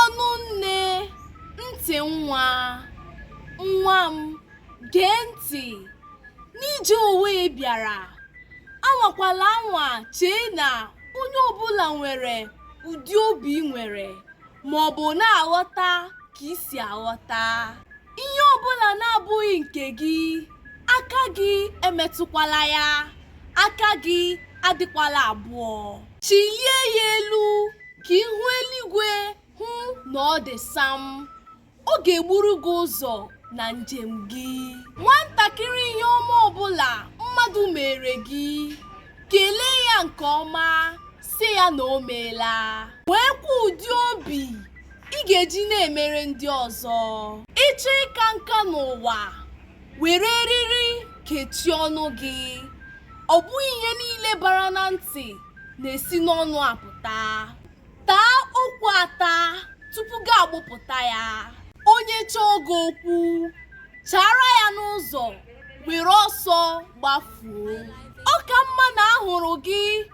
ọnụ nne ntị nwa nwa m gee ntị n'ije ụwa ị bịara anwakwala anwa chee na onye ọbụla nwere ụdị obi ị nwere maọbụ na-aghọta ka i si aghọta Ihe ọ bụla na-abụghị nke gị, aka gị emetụkwala ya, aka gị adịkwala abụọ. Chịlie ya elu ka ihu eluigwe hụ na ọ dị sam. Ọ ga-egburu gị ụzọ na njem gị. Nwantakịrị ihe ọma ọbụla mmadụ meere gị, kelee ya nke ọma, sị ya na o meela nweekwa ụdị obi ị ga-eji na-emere ndị ọzọ ị chọọ ịka nka n'ụwa were eriri kechie ọnụ gị ọ bụghị ihe niile bara na ntị na-esi n'ọnụ apụta taa okwu ata tupu gị agbụpụta ya onye chọọ gị okwu chaara ya n'ụzọ were ọsọ gbafuo ọ ka mma na a hụrụ gị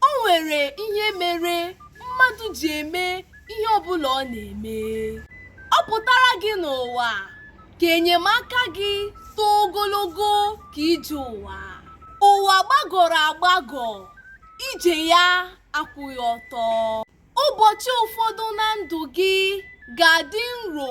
O nwere ihe mere mmadụ ji eme ihe ọbụla ọ na-eme. Ọ pụtara gị n'ụwa ka enyemaka gị too ogologo ka ije ụwa. Ụwa gbagọrọ agbagọ, ije ya akwụghị ọtọ. Ụbọchị ụfọdụ na ndụ gị ga-adị nro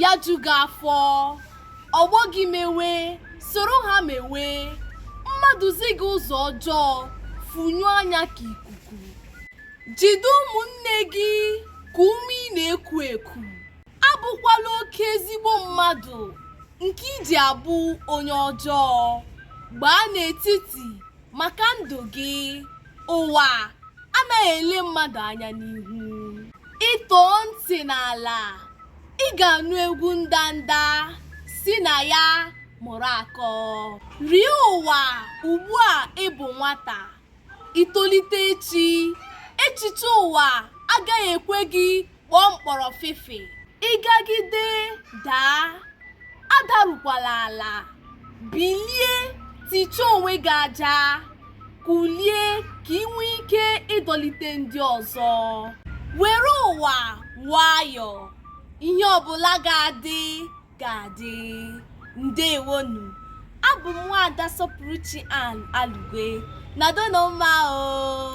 ya ju gị afọ ọgbọ gị mewe soro ha mewe mmadụ zi gị ụzọ ọjọọ fụnyụ anya ka ikuku jide ụmụnne gị ka ume ị na-eku eku abụkwala oke ezigbo mmadụ nke i ji abụ onye ọjọọ gbaa n'etiti maka ndụ gị ụwa anaghị ele mmadụ anya n'ihu ị tọọ ntị n'ala ị ga-anụ egwu ndanda si na ya mụrụ akọ rie ụwa ugbu a ị bụ nwata i tolite echi echiche ụwa agaghị ekwe gị kpọọ mkpọrọfịfị ị gagide daa adarukwala ala bilie tichaa onwe gị aja kulie ka ị nwee ike ịdọlite ndị ọzọ were ụwa nwayọọ ihe ọbụla ga-adị ga-adị ndewonu abụ m nwaada sọpụrụchi ann alugwe nọdụnụ mma o